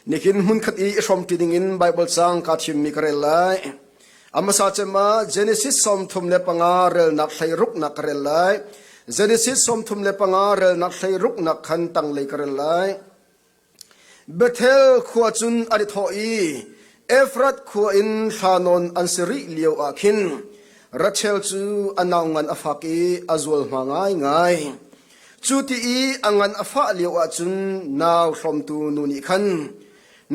Nihin hmunkhat i i hrawmṭi dingin Baibal caang kaa thimmi ka rel lai. A hmasa cem ah Genesis sawmthum le panga relnak hleiruknak ka rel lai. Genesis sawmthum le panga relnak hleiruknak khan tanglei ka rel lai. Bethel khua cun an i thawh i Efrat khua in thla nawn an si rih lio ah khin Rachel cu a nau ngan a fak i a zualhma ngaingai. Cu ti i a ngan a fah lioah cun nau hrawmtu nu nih khan,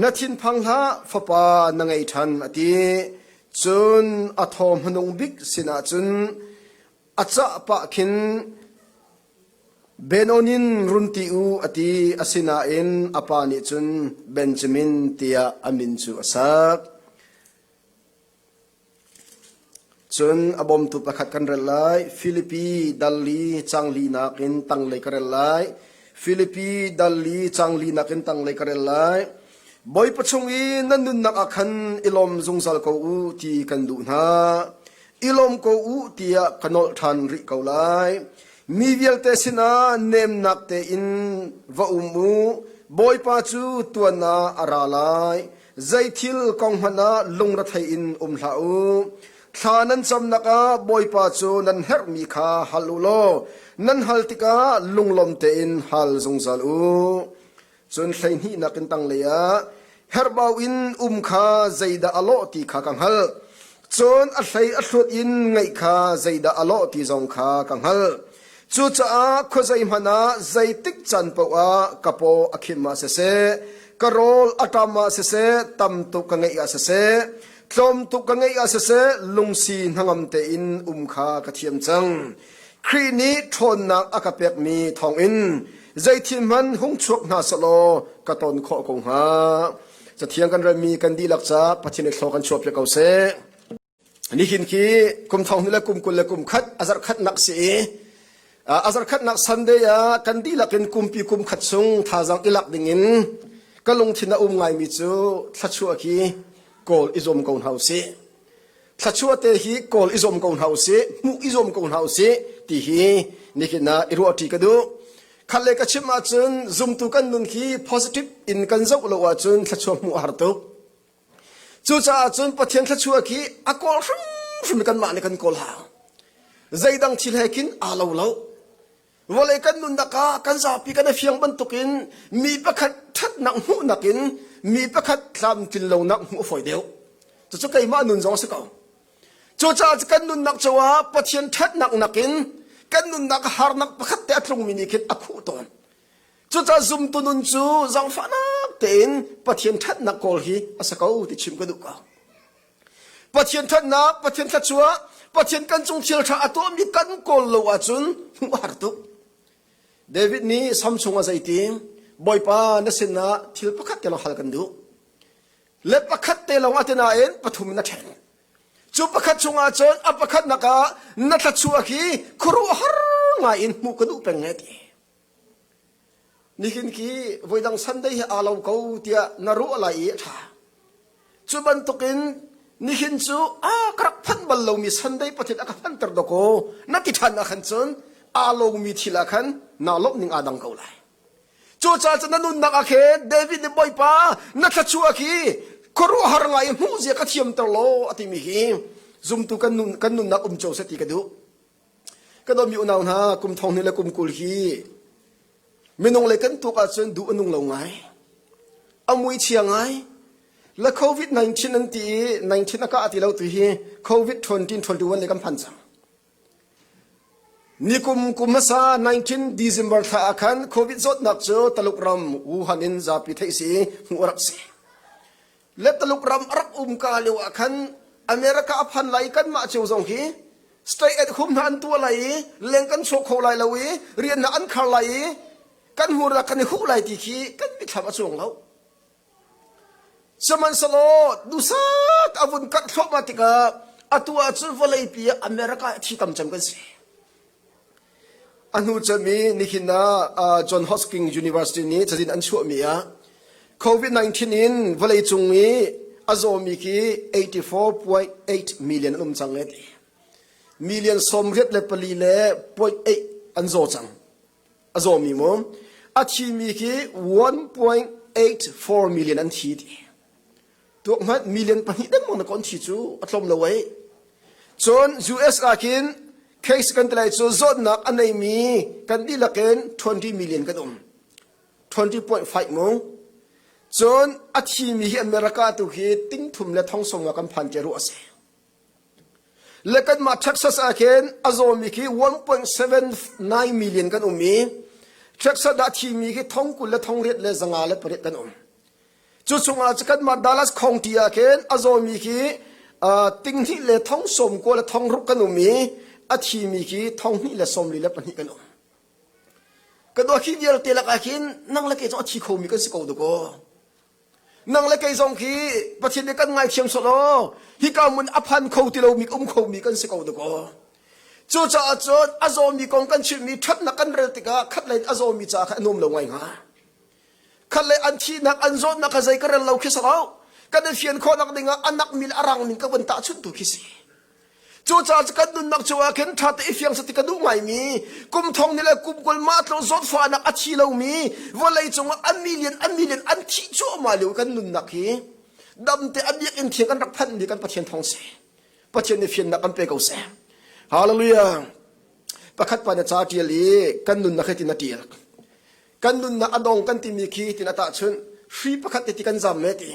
Na thinphang hlah, fapa na ngei ṭhan, a ti. Cun a thaw hmanung bik sinah cun a cah pah khin, Benonin run ti u, a ti. Asinain a pa nih cun Benjamin tiah a min cu a sak. Cun a bawmtu pakhat kan rel lai. Filipi Dalli cangli nakin tanglei ka rel lai. Filipi Dalli cangli nakin tanglei ka rel lai. Bawipa chung i nan nunnak ah khan i lawm zungzal ko u ti kan duh hna. I lawm ko u tiah ka nolh ṭhan rih ko lai. Mi vialte sinah nemnak tein va um u. Bawipa cu tuan ah a ra lai. Zeithil kong hmanh ah lungrethei in um hlah u. Thla nan camnak ah Bawipa cu nan herhmi kha hal u law nan hal tikah lunglawm tein hal zungzal u. Cun hleihnihnak in tanglei ah herhbau in um kha zeidah a lawh ti kha ka hngalh. Cun a hlei a hlut in ngaih kha zeidah a lawh ti zong kha ka hngalh. Cucaah khuazei hmanh ah zeitik can paoh ah ka paw a khim ah siseh, ka rawl a ṭam ah siseh, tam tuk ka ngeih ah siseh, tlawm tuk ka ngeih ah siseh, lungsi hnangam tein um kha ka thiam cang. Khrih nih ṭhawnnak a ka pekmi thawngin zeithil hmanh hung chuak hna selaw ka ton khawh ko hnga. Cathiang kan relmi kan dihlak ca Pathian i thlaw kan chuahpiak ko seh. Nihin khi kum thong hnu le kum kul le kum khat azar khatnak si i azar khatnak Sunday ah kan dihlak in kumpi kum khat chung thazang ilak dingin ka lungthin a um ngaimi cu thlachuah khi kawl i zuam ko hna u sih. Thluachuahte hi kawl i zuam ko hna u sih, hmuh i zuam ko hna u sih, ti hi nihin ah i ruahṭi ka duh. Khat le ka chim ahcun zumtu kan nun khi positive in kan zoh lo ahcun thluachuah hmuh a har tuk. Cucaah cun Pathian thluachuah khi a kawl hrimhrim kanmah nih kan kawl hau. Zeidang thil he khin aa lo lo. Vawlei kan nunnak ah kan zapi kan i fiang bantukin mi pakhat ṭhatnak hmuhnak in mi pakhat tlamtlin lonak hmuh a fawi deuh. Cucu keimah nun zong a si ko. Cucaah kan nunnak cungah Pathian ṭhatnak nakin kan nunnak harnak pakhat te a tlungmi nih khin a khuh tawn. Cucaah zumtu nun cu zaangfahnak tein Pathian ṭhatnak kawl hi a si ko ti chim ka duh ko. Pathian ṭhatnak, Pathian thluachuah, Pathian kan cung thilṭha a tuahmi kan kawl lo ahcun hmuh har tuk. David nih Sam chungah zeiti, Bawipa na sinah thil pakhat te lawng hal kan duh. Le pakhat te lawngah ti nain pathum in a ṭhen. Cu pakhat chungah cun a pakhatnak ah na thluachuah khi khuaruahhar ngaiin hmuh ka duh peng e ti. Nihin ki voidang Sunday hi aa lo ko tiah na ruah lai i a ṭha. Cu bantukin nihin cu a ka rak phanh bal lomi Sunday pathin a ka fanter dawk kaw na ti ṭhan ah khan cun aa lawngmi thil ah khan naa lawmh ning aa dang ko lai. Cucaah cun na nunnak ah khe David nih Bawipa na thluachuah khi khuaruahhar ngai i hmuhzia ka thiamter law a timi hi zumtu kan nun kan nunnak um cio seh ti ka duh. Kan ummi unau hna, kum thong hnih le kum kul hi minung lei kan tuk ahcun duh a nung lo ngai. A muichia ngai. La COVID-19 an ti i 19 a kah ti lo tu hi COVID-19 21 le kan phan cang. Nikum kum hmasa 19 December thla ah khan COVID zawtnak cu Taluk ram Wuhan in zapi theih si hmuh a rak si. le Tuluk ram a rak um ka lio ah khan America a phan lai i kanmah cio zong hi state at hum hna an tuah lai i leng kan sawh kho lai lo i riannak an khar lai i kan hmurna kan i huh lai ti khi kan mitthlam a cuang lo sihmanhselaw dusak a vun karh thluahmah tikah atu ah cun vawleipi ah America hi thi tam cem kan si A hnu cem i nihin ah John Hosking University nih cazin an chuahmi ah COVID-19 in vawleicung i a zawmi khi 84.8 million an um cang i million sawmriat le pali le point eight an zaw cang. A zawmi mu. A thimi khi 1.84 million an thi ti. tuak hmanh million pahnih dengmang na kon thi cu a tlawm lo ai cun US ah khin case kan tlai cu zawtnak a neimi kan dihlak in 20 million kan um 20.5 mung cun a thimi hi America tu khi tingthum le thongsong ah kan phan ke ruh a si Le kanmah Texas ah khin a zawmi khi 1.79 million kan um i Texas dah thimi khi thong kul le thong riat le zanga le pariat kan um. Cu chungah cu kanmah Dallas khongti ah khin a zawmi khi uh, tinghnih le thong sawm kua le thong rup kan um i a thimi khi thong hnih le sawmli le pahnih kan um. Kan ohi vialte lakah khin nang le ke cu a thi khomi kan si ko duko. Nang le kei zong khi Pathian nih kan ngaithiam sawh law hika mun a phan kho ti lomi um khomi kan si ko dakaw. Cucaah cun a zawmi kong kan chimhmi ṭhatnak kan rel tikah khatlei in a zawmi ca kha an um lo ngai hnga. Khatlei an thihnak an zawtnak kha zei ka rel lo khi si lo. Kan i fian khawh nakding ah a nak mi le a rang ning ka vun tahchunh tu khi si. Cucaah kan nunnak chungah khin ṭha te i fiang sati ka duh ngaimi kum thong ni le kum kul mah tluk zawtfahnak a thi lomi vawlei cungah an million an million an thih cuahmah lio kan nunnak hi damte a biakinn thiang kan rak phanhmi kan Pathian thawng si Pathian nih fiannak kan pe ko seh hallelujah pakhat pa na ca ṭial i kan nunnak hi tin a ṭial kan nunnak a dong kan timi khi hitin a tahchunh hri pakhat te ti kan zam me ti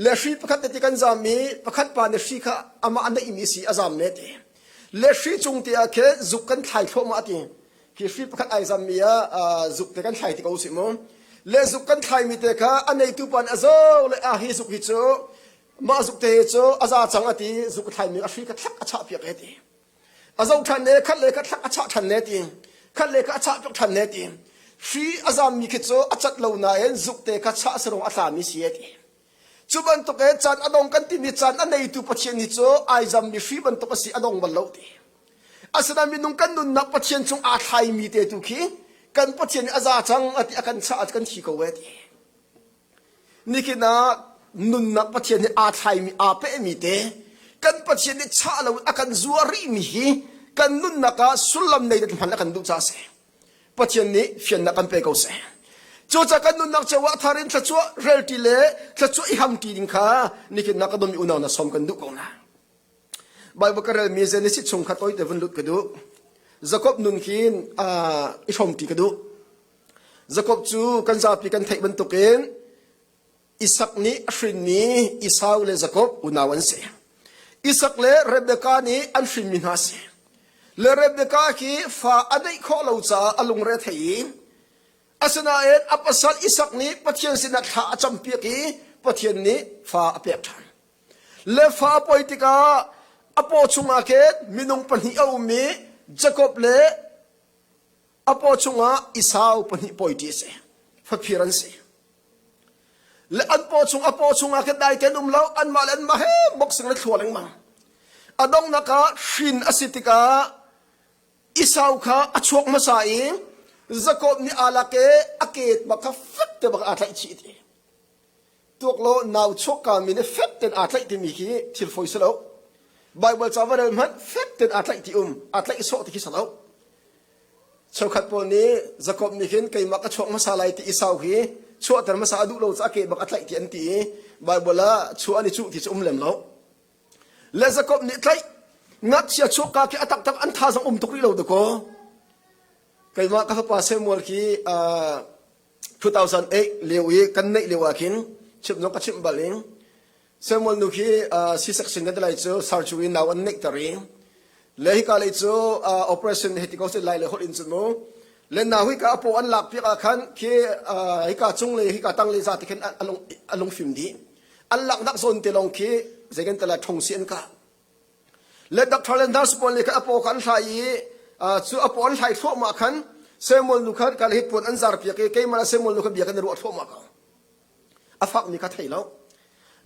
le hri pakhat te ti kan zam i pakhat pa nih hri kha amah naihmi si a zam me ti le hri cung te ah khin zuk kan thlai thloma ti hi hri pakhat ai zam mi ah zuk te kan thlai ti ko si mu le zuk kan thlai mi te kha a neitu pan a zo le a hi zuk hi cu mah zuk te cu a za cang a ti zuk thlai mi a hri kha thlak a chah piak he ti a zoh ṭhan le khat le khat thlak a chah ṭhan le ti khat le khat a chah piak ṭhan le ti hri a zammi khi cu a cat lo nain zukte kha chah a sarung a tlami si e ti cu bantukin can a dong kan timi can a neitu pathian hi cu ai zammi hri bantuk a si a dong bal lo ti asinain minung kan nunnak pathian cung aa thlaimi te tu khi kan pathian a za cang a ti a kan chah a kan thi ko e ti Nihin ah nunnak Pathian nih aa thlaimi, aa pehmi te kan Pathian nih chah loin a kan zuah rihmi hi kan nunnak ah sullam nei hman a kan duh caah a si. Pathian nih fiannak kan pe ko seh. Cucaah kan nunnak cio ah thar in thluachuah relṭi le thluachuah i hamṭi ding kha nihin na ka dum i unau na som kan duh ko na. Baibal ka relmi Genesis chung kha toite vun lut ka duh. Jakob nun khin i hrawmṭi ka duh. Jakob cu kan zapi kan theih bantukin Isak nih a hrinmi Esau le Jakob unau an si. Isak le Rebekah nih an hrinmi hna a si. Le Rebekah khi fa a neih khawh lo caah a lungre thei i asinain a pasal Isak nih Pathian sinah thla a campiak i Pathian nih fa a pek ṭhan. Le fa a poi tikah a paw chungah khin minung pahnih a um i Jakob le a paw chungah Esau pahnih poi ṭi a si. Faphir an si. Le an paw chung a paw chungah khin dai ten um lo anmah le anmah he boxing le thlua lengmang. A donghnak ah hrin a si tikah Esau kha a chuak hmasa i Jakob nih aa lak i a keet bak kha fek te bak aa tlaih chih ti. Tuak law nau chuakka min he fek tein aa tlaih timi khi thil fawi si lo. Baibal cavan rel hmanh fek tein aa tlaih ti um, aa tlaih sawh ti khi si lo. Cheukhat pawl nih Jakob nih khin keimah ka chuak hmasa lai ti i sau hi chuahter hmasa a duh lo caah ke bang a tlaih ti an ti i Baibal ah chuah an i cuh ti cu um lem lo. Le Jakob nih tlaih ngakchia chuakka khi a taktak an tha zong um tuk rih lo dakaw. Keimah ka fapa Samuel khi uh, 2008 lio i kan neih lio ah khin chimhnung ka chimh bal in Samuel nu khi C-section kan ti lai cu surgery nau an neihter i le hika lei cu operation heti ko set lai le holh in cun mu le na hui ka apo an lak piak ah khan khi hika cung le hika tang le za te khan a lung a lung fim dih an lak nak zawn te lawng khi zei kan tala thong si an ka Le doctor le nurse pawl nih khan a paw kha an hlai i cu a paw an hlai thluahmah khan Samuel nu kha ka le hi puan an zar piak i keimah Samuel nu kha bia khan na ruah thluahmah ka a fakmi kha thei lo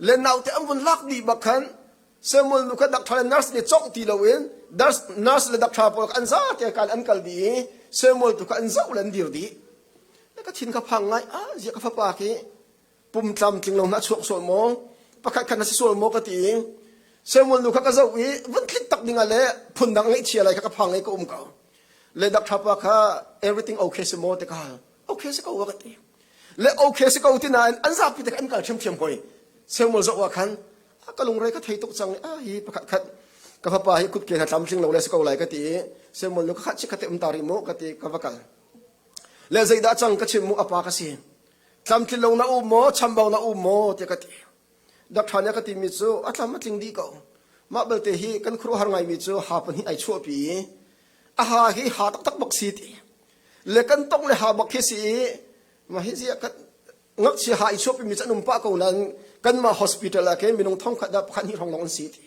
le naute an vun lak dih bak khan Samuel nu kha doctor le nurse nih cawngh ti loin nurse le doctor pawl kha an za te kal an kal dih i Samuel tu kha an zoh le an dir dih ka thin ka phang ngai a zia ka fapa khi pum tlam tling lo na chuak sual maw pakhat khat na si sual maw ka ti i semual nu kha ka zoh i vun thlit tak dingah le phun dang ngeihchia lai kha ka phang i ka um ka le dak thapa kha everything okay si maw te ka okay si ko wa ka ti le okay si ko ti nain an zapi te an kal ṭhiam ṭhiam hoi semual zoh wa khan ka lungre ka thei tuk cang a hi pakhat khat ka fapa hi kutke na tlam tling lo le si ko lai ka ti i semual nu ka khat chi khate um tari mu ka ti ka va kal le zeidah cang ka chim mu apa ka si tlamtlin lo na um maw chambau na um maw tiah ka ti dak ṭhan a ka timi cu a tlam a tling dih ko mah belte hi kan khuaruahhar ngaimi cu ha pahnih ai chuahpi i a ha hi ha taktak bak si ti le kan tong le ha bak hi si i ma hi zia kan ngakchia ha i chuahpimi cu an um pah ko nain kanmah hospital ah ke minung thong khat dah pakhat hnih hrawng lawng an si ti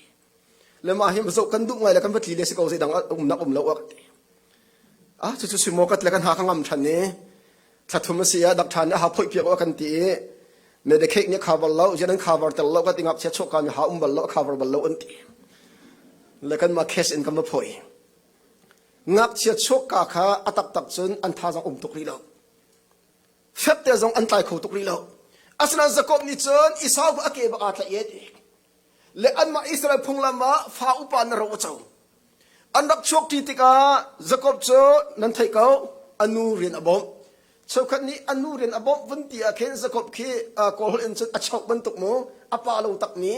Le mah hi zoh kan duh ngai le kan va tli le si ko zeidang umnak um lo ak. Ah cucu simokat le kan ha ka ngam than i thlathum a si a dak than a ha phoi piak kan ti i medicaid nih cover lo jian an cover tel lo ka ti ngap sia choka mi ha um bal lo cover bal lo an ti le kan ma case in kan ma phoi ngak sia choka kha atak tak cun an tha zang um tuk ri lo fep te zong an tlai kho tuk ri lo aslan zakop ni cun isau a ke ba ka tla ye Le anmah Israel phunglam ah fa upa na ro a co. An rak chuakṭi tikah Jakob cu nan theih ko, a nu rian a bawmh. Cheukhat nih an nu rian a bawmh vun ti ah khin Jakob khi kawlholh in cun a chauh bantuk mu, a pa lo takmi,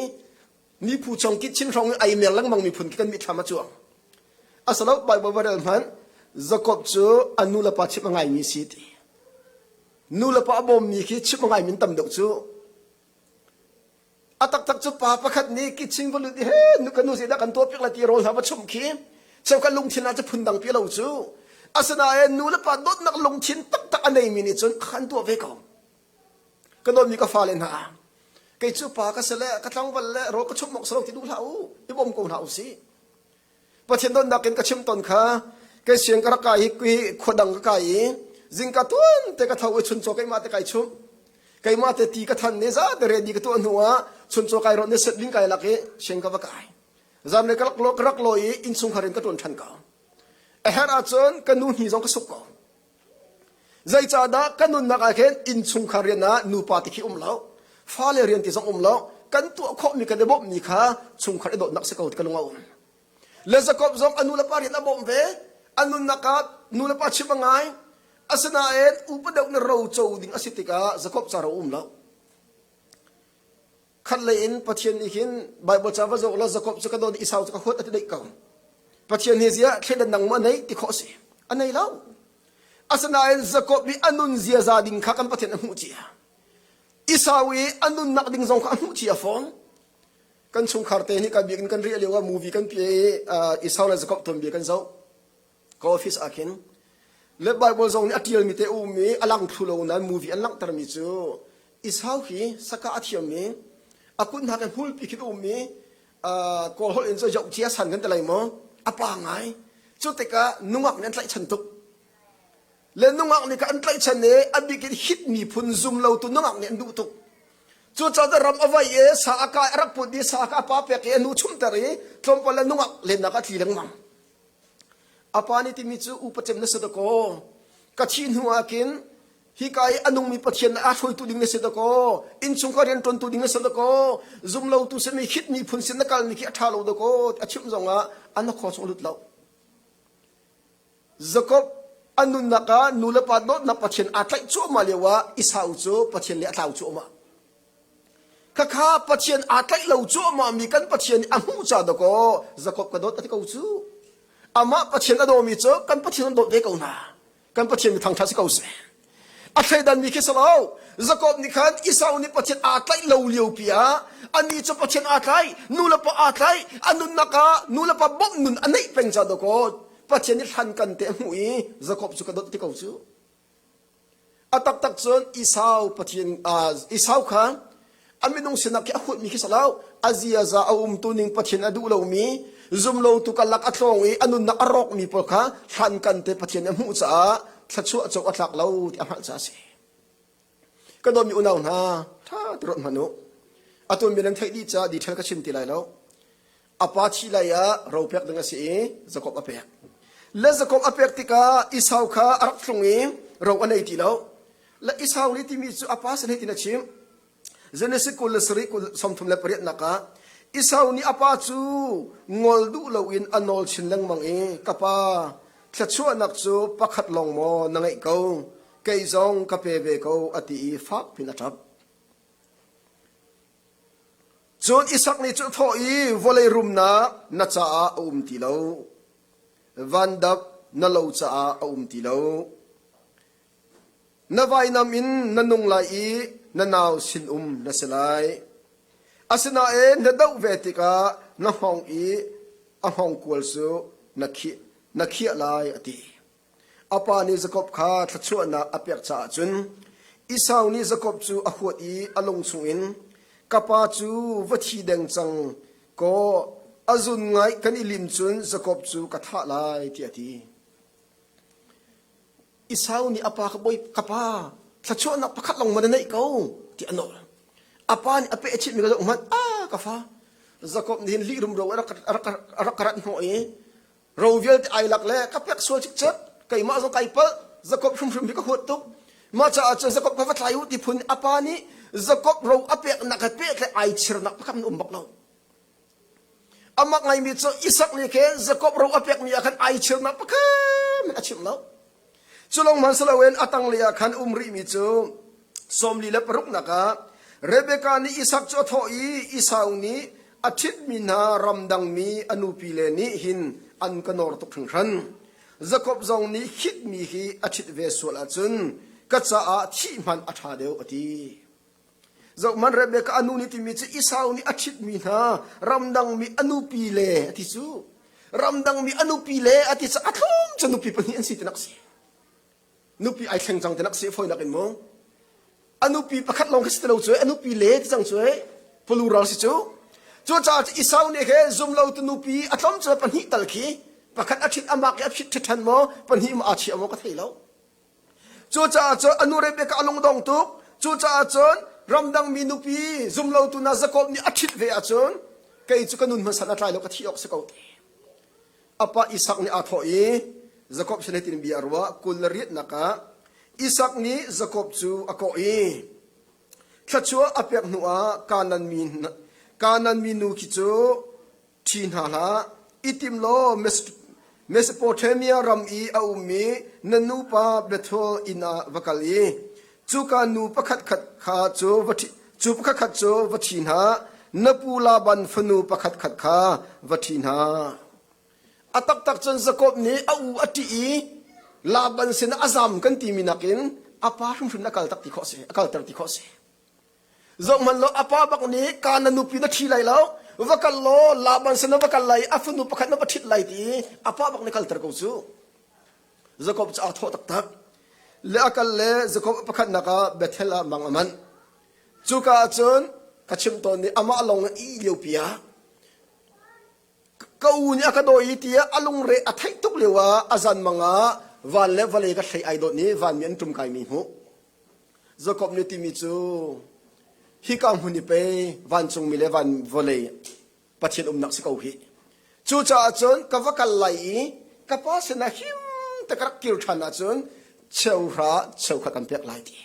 mi phu chung kitchen hrawng in ai mer lengmang mi phun khi kan mithlam a cuang. A salo Baibal va rel hmanh, Jakob cu a nu le pa chimh a ngaimi si ti. Nu le pa a bawmmi khi chimh a ngaimi tam deuh cu A taktak cu pa pakhat nih kitching va lut i he nu kan nu zeidah kan tuah piak lai ti rawl hla va chumh khi cheuka lungthin ah cu phundang pi lo cu asinain nu le pa dawtnak lungthin taktak a neimi nih cun a kan tuah ve ko ka dawtmi ka fale hna kei cu pa ka se le ka tlangval le rawl ka chumh awk si lo ti duh hlah u i bawm ko hlah u si Pathian donnak in ka chim ton kha kei siang ka rak kai hi khua dang ka kai i zingka tuan te ka tho i chuncaw keimah te kai chumh keimah te ti ka than ni za te re ni ka tuah hnu ah chuncaw kai ron ne set ding kai lak i siang ka va kai zan le ka rak lo ka rak lo i innsung har in ka tuan than ka a her ahcun ka nu hi zong ka suk ko Zeicahdah kan nunnak ah khin innchungkhar rian ah nupa ti khi um lo, fale rian ti zong um lo, kan tuah khawhmi kan i bawmhmi kha chungkhar i dawtnak si ko ti ka lung a um. Le Jakob zong a nu le pa rian a bawmh ve. A nunnak ah nu le pa chim a ngai. Asinain upa deuh na ro co ding a si tikah Jakob ca ro a um lo. khatlei in pathian nih hin bible ca va zawk la jacob cu ka don isau cu ka huat ati dei ko pathian hi zia thledan nang ma nei ti kho si anei lo asinain jacob nih anun ziaza ding kha kan pathian a hmuh cia isau i anun nak ding zong kha a hmuh cia fawn kan chungkhar te hi kan biak in kan ri lio ah movie kan pie i isau le jacob ton bia kan zo Ka office ah khin le Bible zong nih a ṭialmi te a um i a lang thlu lo nain movie an langhtermi cu Esau hi saka a thiammi a kut hnak i hmulpi khi a um i uh, kawl holh in cu yoh cia san kan ti lai maw a pa ngai cu tikah nungak nih an tlaihchan tuk le nungak nih kha an tlaihchan i a bik in hit miphun zum lo tu nungak nih an duh tuk cucaah ram a vai i sa a kai a rak put i sa kha a pa pek i a nu chumter i tlawmpal le nungak lennak a tli lengmang A pa nih timi cu upa cem na si dakaw ka thih hnu ah kin hika i a nungmi pathian na aa hruaitu ding na si dakaw innchung ka rian ṭuantu ding na si dakaw zumlotu sin mi khit miphun sin na kal ni khi a ṭha lo dakaw a chimh zong ah an khua chung a lut lo Jakob a nunnak ah nu le pa dawtnak pathian aa tlaih cuahmah lio ah Esau cu pathian le a tlau cuahmah Khakha Pathian aa tlaih lo cuahmahmi kan Pathian nih a hmuh ca dawkaw Jakob ka dawt a ti ko cu. Amah Pathian a dawmi cu kan Pathian an dawt ve ko hna. Kan Pathian mi thangṭhat si ko seh. A thleidanmi khi si lo. Jakob nih khan Esau nih Pathian aa tlaih lo liopi ah anih cu Pathian aa tlaih, nulepa aa tlaih, a nunnak ah nulepa bawmh nun a neih peng ca dawkaw Pathian nih hlan kante a hmuh i Jakob cu ka dawt a ti ko cu. A taktak cun Esau Pathian Esau kha a minung sinak khi a huatmi khi si lo a ziaza a umtuning Pathian a duh lomi zumlotu karlak a tlawng i a nunnak a rawkmi pawl kha hlankan te Pathian nih a hmuh caah thluachuah co a thlak lo ti a hngalh caah a si. Ka dawmi unau hna, ṭha ti rawt hmanh u. Atu mi nan theih dih caah detail ka chim ti lai lo. A pa thih lai ah ro pek ding a si i Jakob a pek. Le Jakob a pek tikah Esau kha a rak tlung i ro a nei ti lo. Le Esau nih timi cu a pa sin hitin a chim. Genesis kul le sarih kul sawmthum le pariat nakah Esau nih a pa cu ngol duh loin a nawl chin lengmang i ka pa thluachuahnak cu pakhat lawng maw na ngeih ko kei zong ka pe ve ko a ti i fak pin a ṭap. Cun Isak nih cun a thawh i, Vawlei rumnak na caah a um ti lo, vandap na lo caah a um ti lo. Na vainam in na nung lai i na nau sinum na si lai. Asinain na doh ve tikah na hngong i a hngongkual cu na khiah, na khiah lai, a ti. A pa nih Jakob kha thluachuahnak a pek caah cun Esau nih Jakob cu a huat i a lung chungin, Ka pa cu va thi deng cang, kaw a zun ngaih kan i lim cun Jakob cu ka thah lai, tiah a ti. Esau nih a pa kha, Bawi ka pa, thluachuahnak pakhat lawng man a neih ko, tiah a nawl. A pa nih a peh a chimhmi kha zoh hmanh, a ka fa, Jakob nih hin lih rumro in a rak ka rat hnawh i ro vialte ai lak le ka pek sual cikcek keimah zong kai palh Jakob hrimhrim hi ka huat tuk mah caah cun Jakob kha va thlai u ti phun apa nih Jakob ro a peknak he peh le ai chirnak pakhat um bak lo amak ngaimi cu Isak nih khin Jakob ro a pekmi ah khan ai chirnak pakhat a chim lo Cu lawng hmanh si loin a tanglei ah khan um rihmi cu sawmli le paruknak ah Rebekah nih Isak cu a thawh i Esau nih a ṭhitmi hna ramdangmi a nupi le nih hin an ka nawr tuk hringhran. Jakob zong nih khitmi hi a ṭhit ve sual ahcun ka caah thih hmanh a ṭha deuh a ti. Zohhmanh Rebekah a nu nih timi cu Esau nih a ṭhitmi hna ramdangmi a nupi le a ti cu ramdangmi a nupi le a ti cu a thong cu nupi pahnih an si tinak a si nupi ai thleng cang tinak a si foinak in mu a nupi pakhat lawng khi si ti lo cu a nupi le ti cang cu plural si cu cucaah cu Esau nih khe zumlotu nupi a tlawm cu pahnih tal khi pakhat a ṭhit a mak i a phit ṭhe ṭhan maw pahnih maw aa chiah maw ka thei lo Cucaah cun a nu Rebekah kha a lungdong tuk. Cucaah cun ramdangmi nupi zumlotu hna Jakob nih a ṭhit ve ahcun kei cu ka nun hmasat a tlai lo ka thih awk si ko. A pa Isak nih aa thawh i, Jakob sin hitin bia a ruah, kul na riatnak ah Isak nih Jakob cu a kawh i, Thluachuah a pek hnuah Kanaan mi, Kanaan mi nu khi cu Ṭhi hna hlah, i tim law Mesopotamia ram i a ummi na nupa Bethel inn ah va kal i cuka nu pakhatkhat kha cu va ṭhi hna, na pu Laban fanu pakhatkhat kha va ṭhi hna. A taktak cun Jakob nih a u a ṭih i Laban sinah a zam kan timi nakin a pa hrimhrin a kalter ti khawh a si. Zohhmanhlaw a pa bak nih kaan na nupi na ṭhi lai lo, va kal law Laban sin va kal lai i a fanu pakhat na va ṭhit lai ti i a pa bak nih kalter ko cu. Jakob cu aa thawh taktak. Le a kal le Jakob a pakhatnak ah Bethel ah mang a manh. Cuka ah cun ka chimh tawn nih amah lawng a ih liopi ah ka u nih a ka dawi i tiah a lungre a theih tuk lio ah a zanmang ah van le vale ka hlei ai dawt i vanmi an ṭum kaimi hmuh. Jakob nih timi cu hika hmun i pei vancungmi le van vawlei Pathian umnak si ko hi. Cucaah cun ka va kal lai i ka pa sinah him te ka rak kir ṭhan ahcun cheuhra cheu kha kan pek lai ti.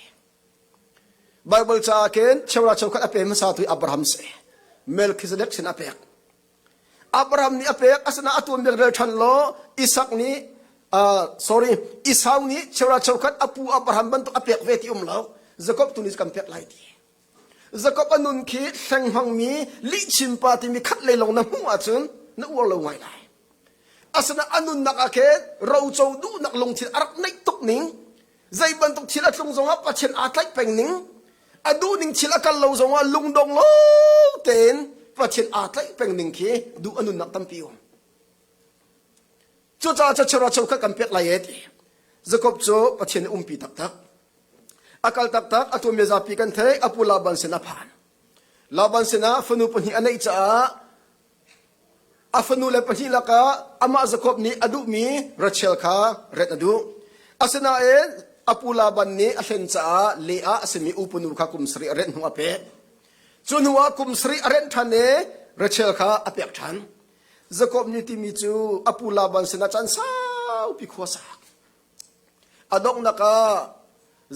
Baibal caah khin cheukhat cheukhat a pe hmasatu hi Abraham a si. Melchizedek sin a pek. Abraham nih a pek asinain a tuanbia rel ṭhan law Isak nih uh, sorry Esau nih cheukhat cheukhat a pu Abraham bantuk a pek ve ti um lo Jacob tu nih kan pek lai ti Jacob a nun khi hleng hmangmi lihchin pa timi khat lei long na hmuh ahcun na uar lo ngai lai asina a nunnak ah khin roco duhnak lungthin a rak neih tuk ning Zei bantuk thil a tlung zongah Pathian aa tlaih peng ning, a duhning thil a kal lo zongah lungdong lo tein Pathian aa tlaih peng ning khi duh a nunnak tampi um. Cucaah chachero cheukhat kan pek lai e ti. Jacob cu Pathian i umpi taktak. A kal taktak, a tuanbia zapi kan theih, a pu Laban sin a phan. Laban sinah fanu pahnih a neih caah A fanule pahnih lakah amah Jakob nih a duhmi Rachel kha ret a duh. Asinain a pu Laban nih a hlen caah leh ah a simi u punu kha kum sarih a rent hnu a pek. Cu hnuah kum sarih a rent ṭhan i Rachel kha a pek ṭhan. Jakob nih timi cu a pu Laban sinah caan saupi khua sak. A donghnak ah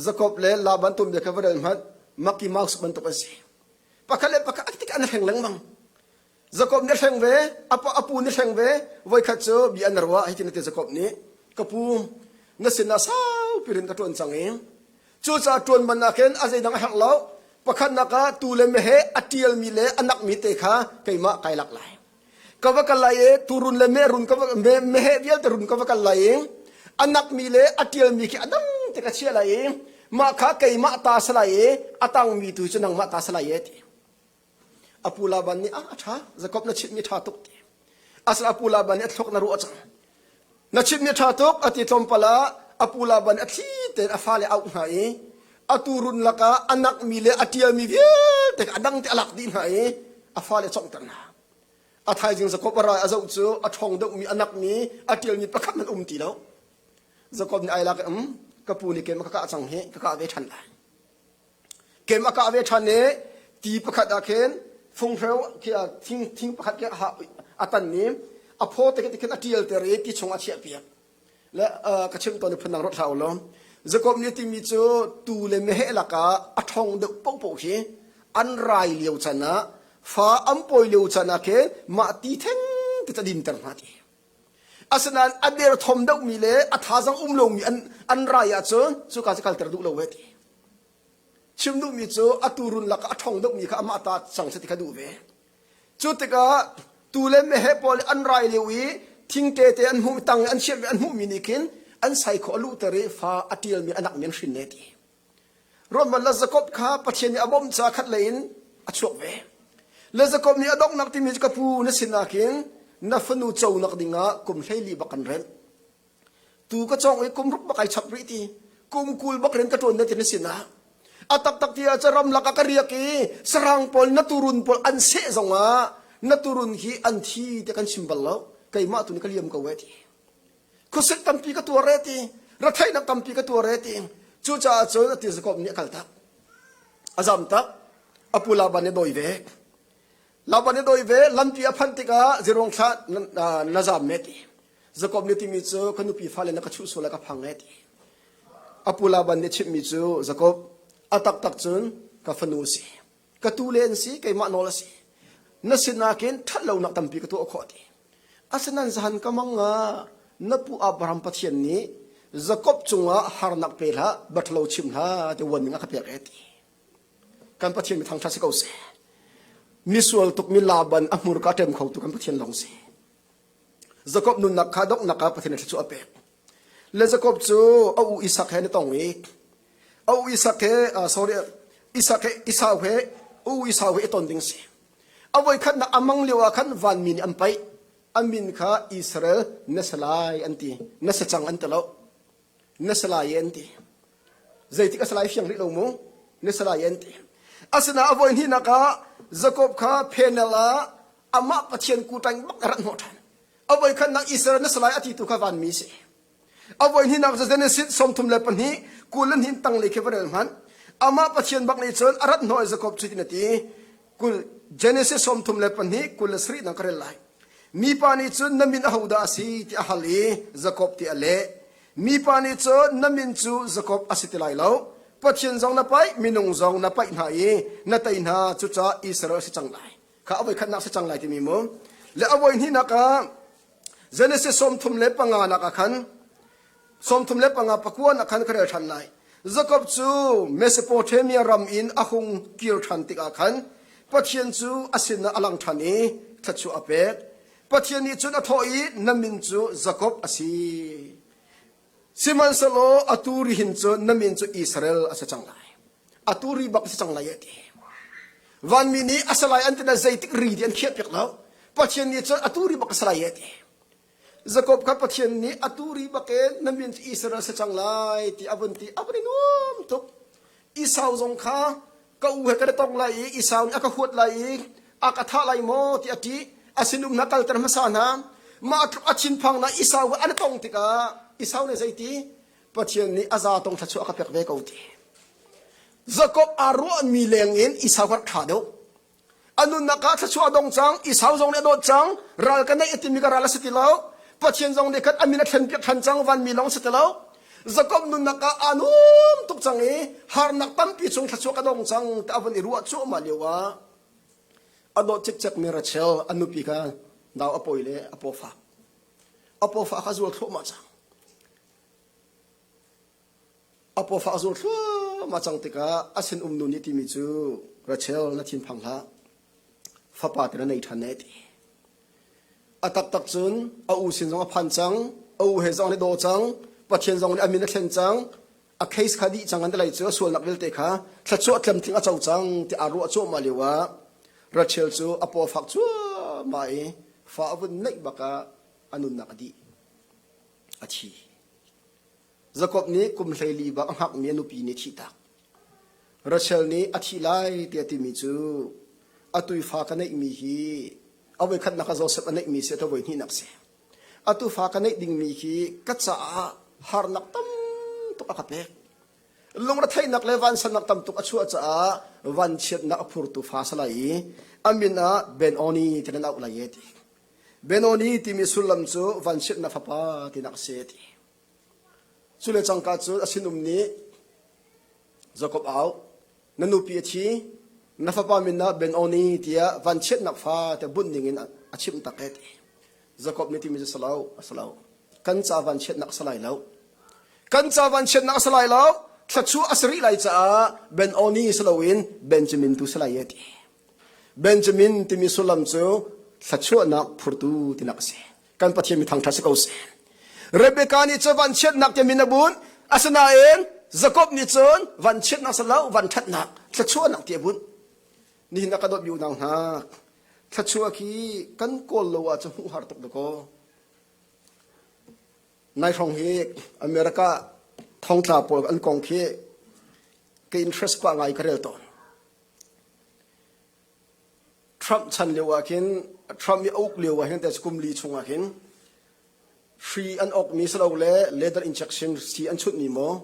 Jakob le Laban tuanbia kha va rel hmanh, makki maus bantuk an si. pakhat le pakhat tik an hleng lengmang Jacob nih hleng ve a pu nih hleng ve voikhat cu bia an ruah hitin ate Jacob nih ka pu na sinah saupi in ka ṭuan cang i cucaah ṭuan bannak hin a zeidang a herh lo pakhatnak ah tuu le meheh a ṭialmi le a nakmi te kha keimah kai lak lai ka va kal lai i turun le merun ka va meheh vialte run ka va kal lai i a nakmi le a ṭialmi khi a dang tik a chia lai i mah kha keimah ta si lai i a tangmi tu cu nangmah ta si lai e ti apu Laban nih a ṭha Jakob na chimhmi ṭha tuk ti asal apu Laban nih a thlawk na ruah cang Na chimhmi a ṭha tuk, a ti tlawmpal ah a pu Laban a thli tein a fale a auh hna i a tuurun lakah a nakmi le a ṭialmi vialte kha a dang tein a lak dih hna i a fale a conghter hna. A thaizing Jakob a ral a zoh cu a ṭhawng deuhmi, a nakmi, a ṭialmi pakhat hmanh um ti lo. Jakob nih ai lak in, um, ka pu nih keimah ka kah cang hi, ka kah ve ṭhan lai. Kem a kah ve ṭhan i ti pakhat ah khin funghreu thing pakhat khi a tan i a phaw te khin a ṭialter i ti chung a chiahpiak. Le ka chimh tawn i phundang ruat hlah ulaw Jakob nih timi cu tuu le meheh lakah a ṭhawng deuh pohpoh hi an rai lio can ah fa an pawi lio can ah khin mah ti thengte cu a dinter hna ti. Asinain a derthawm deuhmi le a thazang um lomi an, an rai ahcun cuka cu kalter duh lo heh ti. Chim duhmi cu a tuurun lak a ṭhawng deuhmi kha amah ta cang seh ti kha duh ve. Cu tikah tuu le meheh pawl an rai lio i thingte te an hmuh tang an chiah an hmuhmi nih khin an saikhaw a luhter i fa a ṭialmi a nakmin hrin ne ti. Ruathman le Jakob kha Pathian nih a bawm caah khatlei in a chuak ve. Le Jakob nih a donghnak timi cu ka pu na sin ahhin na fanu conak dingah kum hleili bak kan rent. Tu ka cawng i kum ruk bak ai chap rih ti. Kum kul bak in ka ṭuan na ti na sinah. A taktak ti ahcun ramlak ah ka riak i sarang pawl na turun pawl an seh zongah na turun hi an thi te kan chim bal lo. Keimah tu nih ka liam ko e ti. khuasik tampi ka tuar e ti rathainak tampi ka tuar e ti cucaah cun a tirzakawp nih a kal tak a zam tak a pu laban a doi ve laban a doi ve lampi a phanh tikah zirong thla na zam me ti zakawp nih timi cu ka nupi fale na ka chuh sual ka phang e ti a pu laban nih chimhmi cu zakawp a taktak cun ka fanu si ka tu le an si keimah nawl a si na sinah khin ṭhat lonak tampi ka tuah khawh ti asinain zahan ka manga na pu Abraham Pathian nih Jakob cungah harnak pe hlah baṭlo chim hlah ti warning a ka pek e ti kan Pathian mi thangṭhat si ko seh misual tuk mi Laban a hmurka ṭem kho tu kan Pathian lawng si Jakob nunnak kha donghnak ah Pathian thluachuah a pek. Le Jakob cu a u Isak he na tong i a u Isak he sorry Isak he Esau he u Esau he i ton ding a si. A voikhat na amang lio ah khan vanmi nih an paih. An min kha Israel na sa lai an ti. Na sa cang an ti lo. Na sa lai an ti. Zeitik a sa lai fiang rih lo mu. Na sa lai an ti. Asinain a voi hnihnak ah Jakob kha phenel ah amah pathian kuṭang bak ka rat hnawh ṭhan avoi khan nang Israel na salai a ti tu kha vanmi si avoi ni nak za Genesis sawmthum le pahnih kul le hnin tang le khi va rel hman amah pathian bak nih cun a rat hnawh Jacob cu na ti kul Genesis sawmthum le pahnih kul le sarih nang ka rel lai mipa nih cun na min a hodah a si ti a hal i Jacob ti a leh mipa nih cun na min cu Jacob a si ti lai lo pathian zong na paih minung zong na paih hna i na tei hna cuca Israel si cang lai kha a voikhatnak si cang lai timi mu le a voi hnihnak ah Genesis sawmthum le panga nak ah khan sawmthum le panga pakuan ah khan ka rel ṭhan lai Jakob cu Mesopotamia ram in a hung kir ṭhan tikah khan Pathian cu a sinah a lang ṭhan i thlat a pek Pathian nih cun a thawh i na min cu Jakob a si Sihmanhsehlaw atu ri hin cu na min cu Israel a si cang lai. Atu ri bak a si cang lai a ti. Vanmi nih a si lai an tina zeitik ri ti an khiahpiak lo. Pathian nih cun atu ri bak a si lai a ti. Jakob kha Pathian nih atu ri bak in na min cu Israel a si cang lai ti a vun ti a vun i nuam tuk. Esau zong kha ka u he kan i tong lai i Esau nih a ka huat lai i a ka thah lai maw ti a ṭih. A sinum hna kalter hmasa hna. Mah tluk a thinphang hna Esau he an i tong tikah Esau nih zei ti? Pathian nih a zatong thluachuah a ka pek ve ko ti. Jakob aa ruahmi lengin Esau kha ṭha deuh. A nunnak ah thluachuah a dong cang, i sau zong nih a dawt cang, ral kan neih a timi ka ral a si ti lo. Pathian zong nih khan a min a thlen piak ṭhan cang, vanmi lawng si ti lo. Jakob nunnak ah aa nuam tuk cang i harnak tampi chung thluachuah ka dong cang ti a vun i ruah cuahmah lio ah a dawt cikcekmi Rachel a nupi kha nau a pawi le a paw fak. A paw fak kha zual thluahmah cang. A paw fak zur thluahmah cang tikah a sinum nu nih timi cu Rachel na thinphang hlah fapa te na nei ṭhan e ti. A taktak cun a u sin zong a phan cang a u he zong an i daw cang Pathian zong nih a min a thlen cang a case kha dih cang an ti lei cu a sualnak vialte kha thluachuah tlamtling a co cang ti aa ruah cuahmah lio ah Rachel cu a paw fak cuahmah i fa a vun naih bak ah a nunnak a dih a thi. Jakob nih kum hleili bak a hngakmi a nupi nih thihtak. Rachel nih a thih lai tiah timi cu a tuifa ka neihmi hi a voi khatnak ah Josef a neihmi si a voi hnihnak si. A tufa ka neih dingmi hi ka caah harnak tam tuk a ka pek. Lungretheinak le vansannak tam tuk a chuah caah vanchiatnak a phurtu fa sa lai i a min ah Benoni ti nan auh lai e ti. Benoni timi sullam cu vanchiatnak fapa tinak a si ti. Cule cangka cu a sinum nih, Jakob au, na nupi a thi, na fapa min ah Ben-oni tiah vanchiatnak fate bunh dingin a chimh tak ee, ti. Jakob nih timi cu si lo, a si lo. Kan ca vanchiatnak a si lai lo. Kan ca vanchiatnak a si lai lo. Thluachuah a si rih lai caah Ben-oni si loin Benjamin tu si lai ee, ti. Benjamin timi sullam cu thluachuahnak phurtu tinak a si. kan pathian mi thangtha si ko si rebecca nih cu vanchiatnak tiang min a bunh asinain jacob nih cun vanchiatnak salo vanṭhatnak thluachuahnak ti a bunh nihin a ka dawt mi unau hna thluachuah khi kan kawl lo ah cu hmuh har tuk dakaw nai hrawng hi america thongtla pawl an kong khi ka interest kwa ngai ka rel tawn Trump chan lio ah khin Trump i uk lio ah hin teh kum li chung ah khin free an ok mi silole leather injection si an chunh mi maw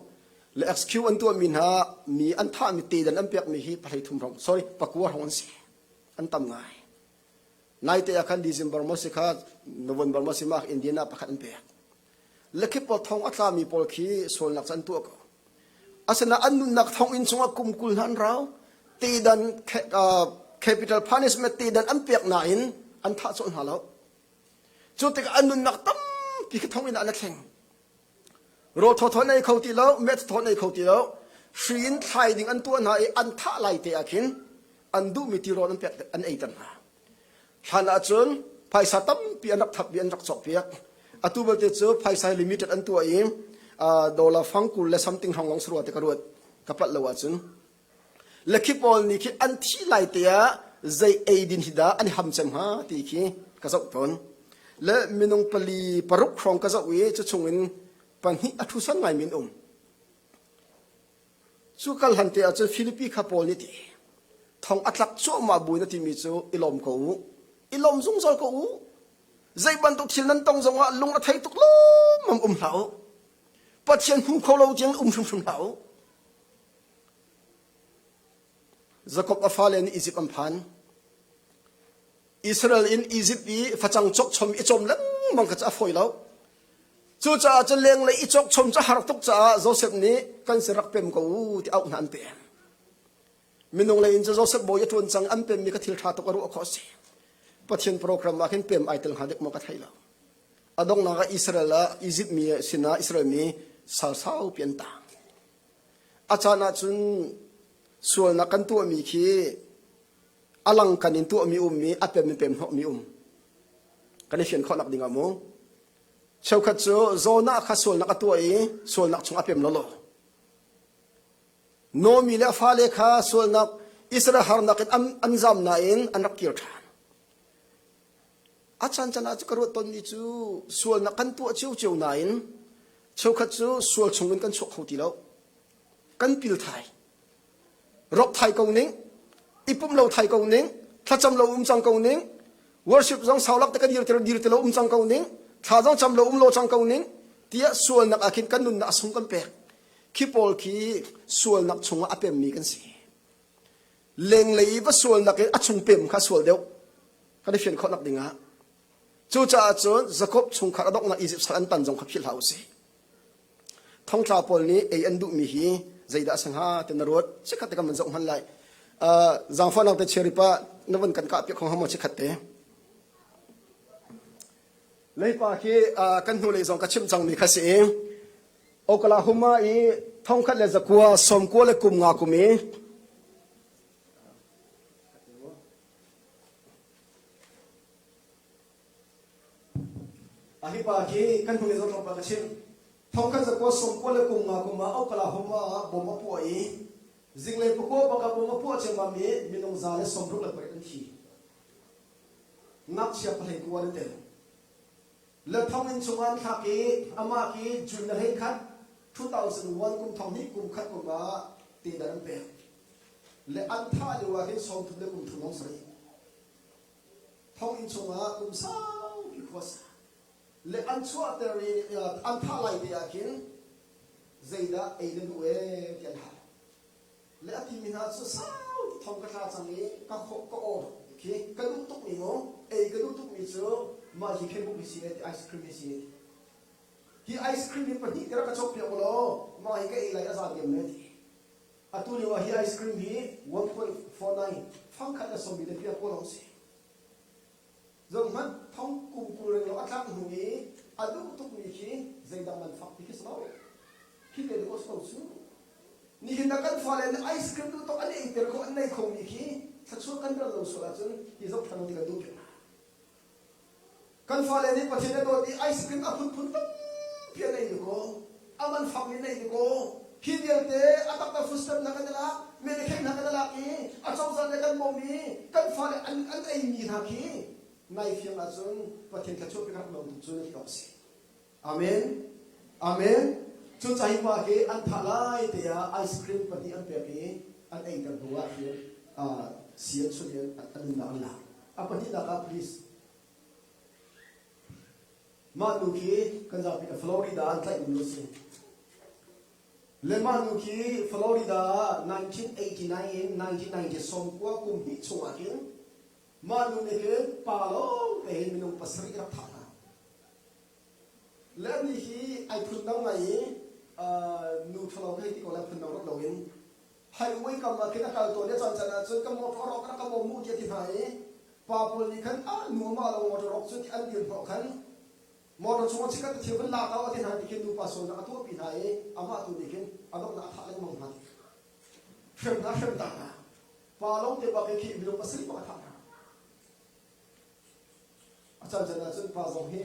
le excuse an tuah mi hna mi an thah mi tedan an pek mi hi pahhlei thum rong sorry pakua rong an si an tam ngai naite ah khan December maw si kha November maw si mah Indian ah pakhat an pek Lekip pawl thong a tlami pawl khi sualnak cu an tuah ko. Asinain an nunnak thonginn chungah kum kul hna an rau. Tedan, capital punishment tedan an pek nain an thah cawlh hna lo. Cu tikah an nunnak tampi khi thonginn ah an thleng. Rawl thawthaw nei kho ti lo, met thawthaw nei kho ti lo. Hri in thlai ding an tuah hna i an thah lai te ah khin an duhmi tirawl an pek an eiter hna. Hlan ahcun phaisa tampi an rak thap i an rak cawhpiak. Atu belte cu phaisa limited an tuah i dollar fang kul le something hrawng lawng sarua te ka ruat ka palh lo ahcun. Le khi pawl nih khi an thih lai te ah zei eidin hi dah an i ham cem hnga ti khi ka zoh tawn. Le minung pali paruk hrawng ka zoh i cu chungin pahnih a thusan ngaimi an um. Cu kal hlante ah cun Filipi kha Paul nih tih, thong a tlak cuahmah bu in a timi cu i lawm ko u. I lawm zungzal ko u. Zei bantuk thil nan tong zongah lung a thei tuk lawmmam um hlah u. Pathian hmu kho lo tiang um hrimhrim hlah u. Jakob a fale nih Izipt an phan. Israel in Izipt i facang chokchom i cawm lengmang kha a fawi lo. Cucaah cun lenglei i chokchom cu har tuk caah Josef nih kan si rak pem ko u ti auh hna an pem. Minung lei in cu Josef bawi a ṭuan cang an pemmi kha thil ṭha tuk a ruah khawh a si. Pathian program ah khin pem ai tel hnga dek maw ka thei lo. A donghnak ah Israel ah Izipt mi sinah Israel mi sal saupi an tang. A caan ah cun sualnak kan tuahmi khi a langkan in tuahmi um i a pem in pemhnawhmi um kan i fian khawhnak ding ah mu cheukhat cu Jonah kha sualnak a tuah i sualnak chung a pem lolo Nomi le fale kha sualnak Israel harnak in an, an zam nain an rak kir ṭhan a caan caan ah cu ka ruat tonmi cu sualnak kan tuah cio cio nain cheukhat cu sual chungin kan chuak kho ti lo kan pilthai Rawk thai ko ning, ipum lo thai ko ning, thlacam lo um cang ko ning, worship zong saulak te kan dir ti dir ti lo um cang ko ning, thla zong cam lo um lo cang ko ning, tiah sualnak ah khin kan nunnak a sung kan pek. Khi pawl khi sualnak chungah a pemmi kan si. Lenglei i va sualnak in a chung pem kha sual deuh. Kan i fian khawh nak dingah. Cucaah cun Jacob chungkhar a donghnak Egypt sal an tan zong kha philh hlah u si. Thongtla pawl nih ei an duhmi hi zeidah a si hnga ti na ruat. Chikkhat te kan van zoh hman lai. Uh, zaangfahnak te chia ripah na van kan kah piak kho hama chikkhat te. Leipa khi uh, kan hnu lei zong ka chimh cangmi kha si i Oklahoma i thongkhat le zakua sawmkua le kum nga kum i A hipa khi kan hnu i zohtlawng pa ka chimh. Thongkhat za kua sawm kua le kum nga kum ah ukala humra ah bom a puah i zinglei pakua bak ah bom a puah ciammam i minung za le sawmruk le pariat an thi. Ngakchia pahlein kua an tel. Le thonginn chungah an thlak i amah khi June le hlei khat 2001 kum thong hnih kum khat kum ah tender an pek. Le an thah lio ah hin sawm thum le kum thum long sarih. thonginn chungah kum saupi khuas le an chuahter i an thah lai te ah khin zeidah ei na duh ee ti an hal le a timi hna cu sauti thong ka tla cang i ka khawh ka awr khi ka duh tukmi mu ei ka duh tukmi cu mah hi facebook hi si ti ice cream hi si hi ice cream hi pahnih ka rak ka chok piak law mah hi ka ei lai a za diam ne Atu lio ah hi ice cream hi 1.49 fangkhat a sawm i lepiak kaw lawng a si. Zohhmanh, thong kum kul reng lawng a tlak hnu i a duh tukmi khi zeidah man fak ti khi si lo. Khi te duk ko su. Nihin na kan fale nih ice cream tu tok an eiter ko an nei khomi khi thluachuah kan ral lo sual ahcun hi zoh than ding kan duh ve. Kan fale nih Pathian a dawt i ice-cream a phunphun tampi an ei dakaw. A man fakmi na ei dakaw. Hi vialte a taktak footstep kan i lak, medekhek hna kan i lak i a cozah nih kan bawm i kan fale an, an eimi hna khi nai fiang ahcun Pathian thluachuahpi ka rak lawm tuk cu na ti awk a si. Amen! Amen! Cu caihma hi an thah lai te ah ice cream pahnih an pek i an eiter hnu ah hin uh, si an chunh in an nunnak an lak. A pahnihnak ah please mah nu khi kan zapi le Florida an tlaihmi nu a si. Le mah nu khi Florida ah 1989 in 1990 sawmkua kum hnih chungah hin mah nu nih hin pa lawng te hin minung pasarih rak thah hna. Le an nih hi ai phundang ngai i nu thalo hei ti ko le phundang rak loin haiwei kam ah khin a kal tawn i caan can ahcun kan motor rawk rak ka bawm mu ti a ti hna i pa pawl nih khan a nuam ah lo motor rawk cu ti an dir hnawh khan motor chungah chikat a thir van lak a ti hna ti khin nupa sualnak a tuahpi hna i amah tu nih khin a donghnak a thah lengmang hna hrem hna hrem ta hna pa lawngte bak i khi mi lung pasarih bak a thah hna A can can ahcun pa zong hi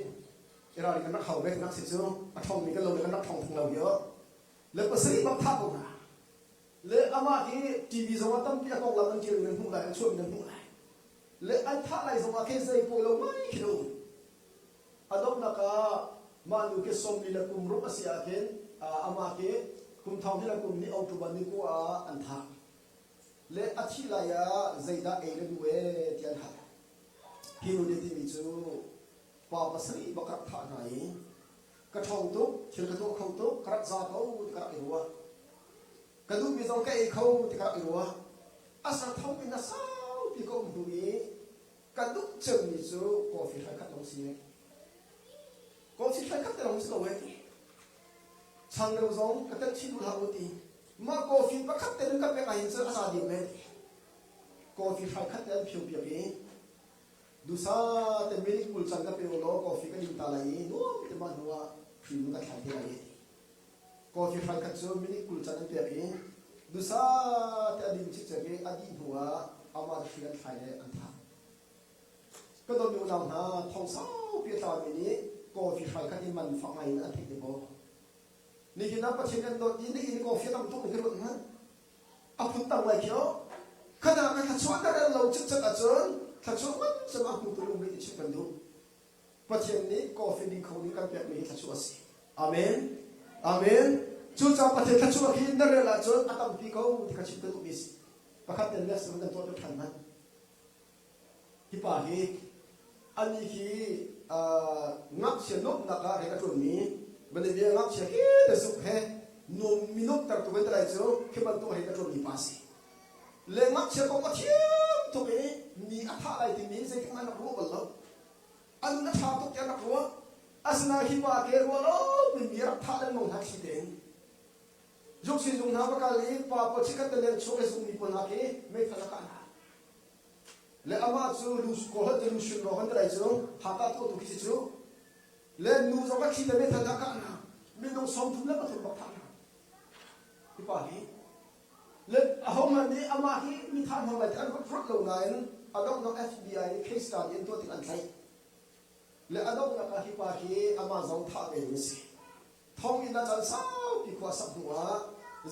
i ralring kan rak hau ve nak si cu a ṭhong mi kan lo le kan rak ṭhong tung lo hi le pasarih bak thah ko hna le amah hi TV zong ah tampi a konglam an ṭial mi nan hmuh lai an chuah mi nan hmuh lai le an thah lai zong ah khin zei pawi lo mai khi lo a donghnak ah mah nu khi sawmli le kum ruk a si ah khin amah khi kum thong hi le kum ni autu ban ni ku ah an thah le a thih lai ah zeidah ei na duh ee tiah an hal. Hi nu nih timi cu pa pasarih va ka rak thah hna i ka ṭhawng tuk, thil ka tuah kho tuk, ka rak za ko ti ka rak i ruah. Ka duhmi zong ka ei kho ti ka rak i ruah. A sa thomi hna saupi ka um hnu i ka duh cemmi cu coffee thlaikhat lawng si e. Coffee thlaikhat te lawng si lo e. Chang deuh zong ka telh chin duh hlah u ti. Mah coffee pakhat te nu kan pek ahhin cun a za deuh men. Coffee hrai khat te an phio piak i dusa te milik kul can ka pe law coffee kan in ta lai i nuam te mah hnu ah hrimu ka thlan te lai i coffee hrai khat cu milik kul can an pek i dusa te a dim cikcek i a dih hnu ah amah hri an thlai le an thah ka dawmi unau hna thong saupi a tlami nih coffee hrai khat i man fak ngai in an theih te maw Nihin ah Pathian kan dawt i nihin coffee lam tu ka ruat ngan. A phuntar lai khi oh. Khana ka thluachuah ter an lo cikcek ahcun thluachuah ngangsam a hmutu um rih chim kan duh. Pathian nih coffee ding kho ding kan pekmi hi thluachuah a si. Amen. Amen. Cucaah Pathian thluachuah khi na rel ahcun a tampi ko ti ka chim kan duhmi a si. Pakhat ten le sak nan tuah ṭhan hna. Hipa hi anih hi ngakchia nuamhnak ah rian a ṭuanmi manebia ngakchia he te sungh he nuam mi nuamhtertu vantalai cu khi bantuk hin a ṭuanmi pa a si. Le ngakchia kong a thiam tuk i mi a thah lai timi zeitikhmanh an rak ruah bal lo. A nun a ṭha tuk tiah an rak ruah. Asinain hi pa ke rual awkin mi a rak thah lengmang hna thli tein zuksin zung hna va kal i pa pawl chikkhat le leng chung i zungmi pawl hna khi meithal a kah hna. Le amah cu lu kawhlet in hrin rawk an tlai cu haka thawhtu khi cu le nu zong a thli te methal a kah hna minung song thum le pathum bak thah hna hipa hi le ahohmanh nih amah hi mi tha hna lai ti an huat phurut lo nain a donghnak FBI nih case kaan i an tuah tik an tlaih le a donghnak ah hipa hi amah zong thah ve ding a si thonginn a can saupi khua sak hnu ah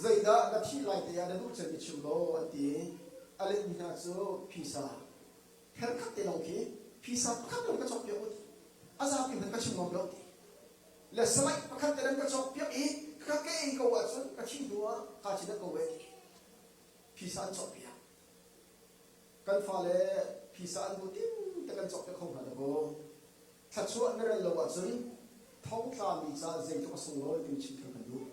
zeidah na thih lai te ah na duh cem i chim law an ti a letmi hna cu phisa kher khat te lawng khi phisa pakhat te ka cawk piak ut a zapi hmanh ka chim ngam lo le salai pakhat te nan ka cawk piak i ka ke ei ko ahcun ka thi hnu ah ka chin ko e phisa an cawk piak Kan fale phisa an hmuh tingte kan cawk te kho hna dakaw. Thluachuah na rel lo ahcun thongtla mi caah zeitluk a sunglawi timi chim theu kan duh.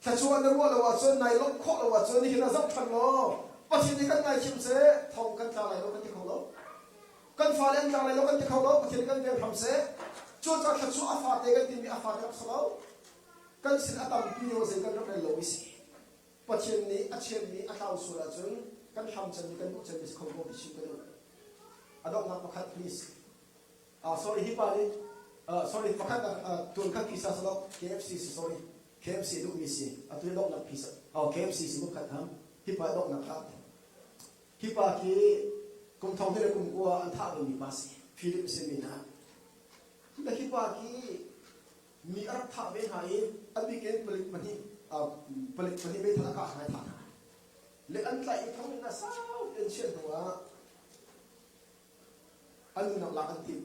Thluachuah na ruah lo ahcun, nai lawmh khawh lo ahcun nihin ah zoh ṭhan law Pathian nih kan ngaithiam seh, thong kan tla lai lo kan ti kho lo. Kan fale an tla lai lo kan ti kho lo, Pathian nih kan derham seh. Cucaah thluachuah a fate kan timi a fate rak si lo. Kan sin a tampi nih zei kan rak rel lo i si. Pathian nih a chiatmi a tlau sual ahcun kan hlam cemmi, kan duh cemmi si kho ko mi si kan duh. A donghnak pakhat, please. Uh, sorry, hi pa nih, uh, sorry, pakhat uh, uh, tunkhat pisa si lo, KFC si, sorry. KFC duhmi si. Atu hi donghnak pisa, oh, KFC si kumkhat ha. Hi pa donghnak ha. Hi pa ki kum thong le kum kua an thah dingmi pa si. Philip si mi na. Hi pa ki mi a rak thah ve hna i a bik in palik pahnih palik pahnih meithal a kah hna thah hna le an tlaih i thong in a sau an chiah hnu ah an unau lak an tim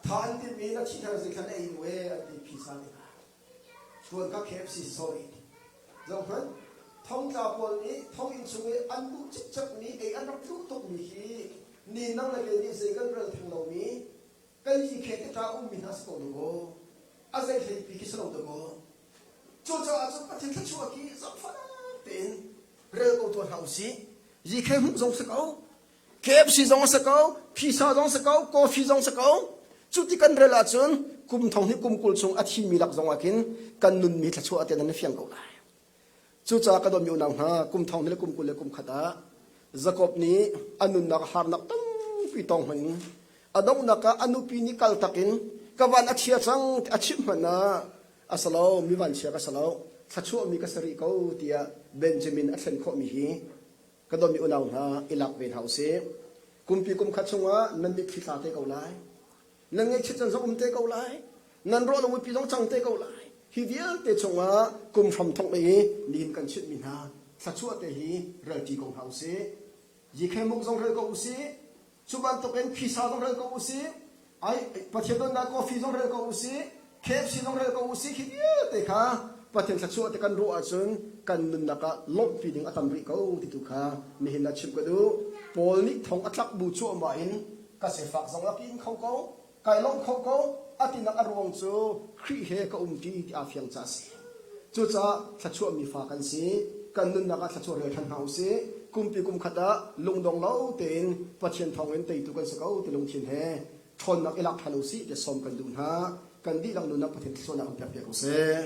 tha an tim i na thihnar zeikhan ei we an ti phisa nih tuan ka KFC sorry zong hman thongtla pawl nih thong in chung i an duh cikcek mi ei an rak duh tuk mi khi ni nang le ke nih zei kan rel theng lo mi Kan nih Khehtetah a ummi hna si ko dawh a zei hleipi khi si lo dawh Cucaah cun Pathian thluachuah khi zaangfah tein rel ko tuan hlah usih. Yikhe hmuh zong si ko, KFC zong si ko, pisa zong si ko, coffee zong si ko. Cu ti kan rel ahcun kum thong hi kum kul chung a thimi lak zong ah khin kan nunmi thluachuah te nan fiang ko lai. Cucaah ka dawtmi unau hna, kum thong ni le kum kul le kum khat ah Jakob nih a nunnak harnak tampi tong hmang in a donghnak ah a nupi nih kal tak in ka van a chia cang ti a chimh hmanh ah a si lo mi vanchia ka si lo thluachuahmi ka si rih ko tiah Benjamin a thlen khawhmi hi ka dawmi unau hna i lak ve hna usih kumpi kumkhat chungah nan mitthli tla te ko lai nan ngaihchiat caan zong um te ko lai nan ruah na muipi zong cang te ko lai hi vialte chungah kum hram thong le i nihin kan chitmi hna thluachuah te hi relṭi ko hna usih zikhemuk zong rel ko usih cu bantukin phisa zong rel ko usih ai pathian donnak coffee zong rel ko usih KFC zong rel ko usih khi vialte kha Pathian thluachuah te kan ruah ahcun kan nunnak ah lawmhpi ding a tam rih ko ti tu kha nihin ah chim ka duh. Paul nih thong a tlak bu cuahmah in ka sifak zong a kin kho ko, kai lawmh kho ko, a tinak a ruang cu Khrih he ka um ṭi ti aa fiang caah a si. Cucaah thluachuah mi fa kan si. Kan nunnak ah thluachuah rel ṭhan hna usih. Kumpi kum khat ah lungdong lo tein Pathian thawngin teitu kan si ko ti lungthin he ṭhawnnak i lak ṭhan u sih tiah sawm kan duh hna. Kan dihlak nunah Pathian thluachuahnak in pek piak u sih.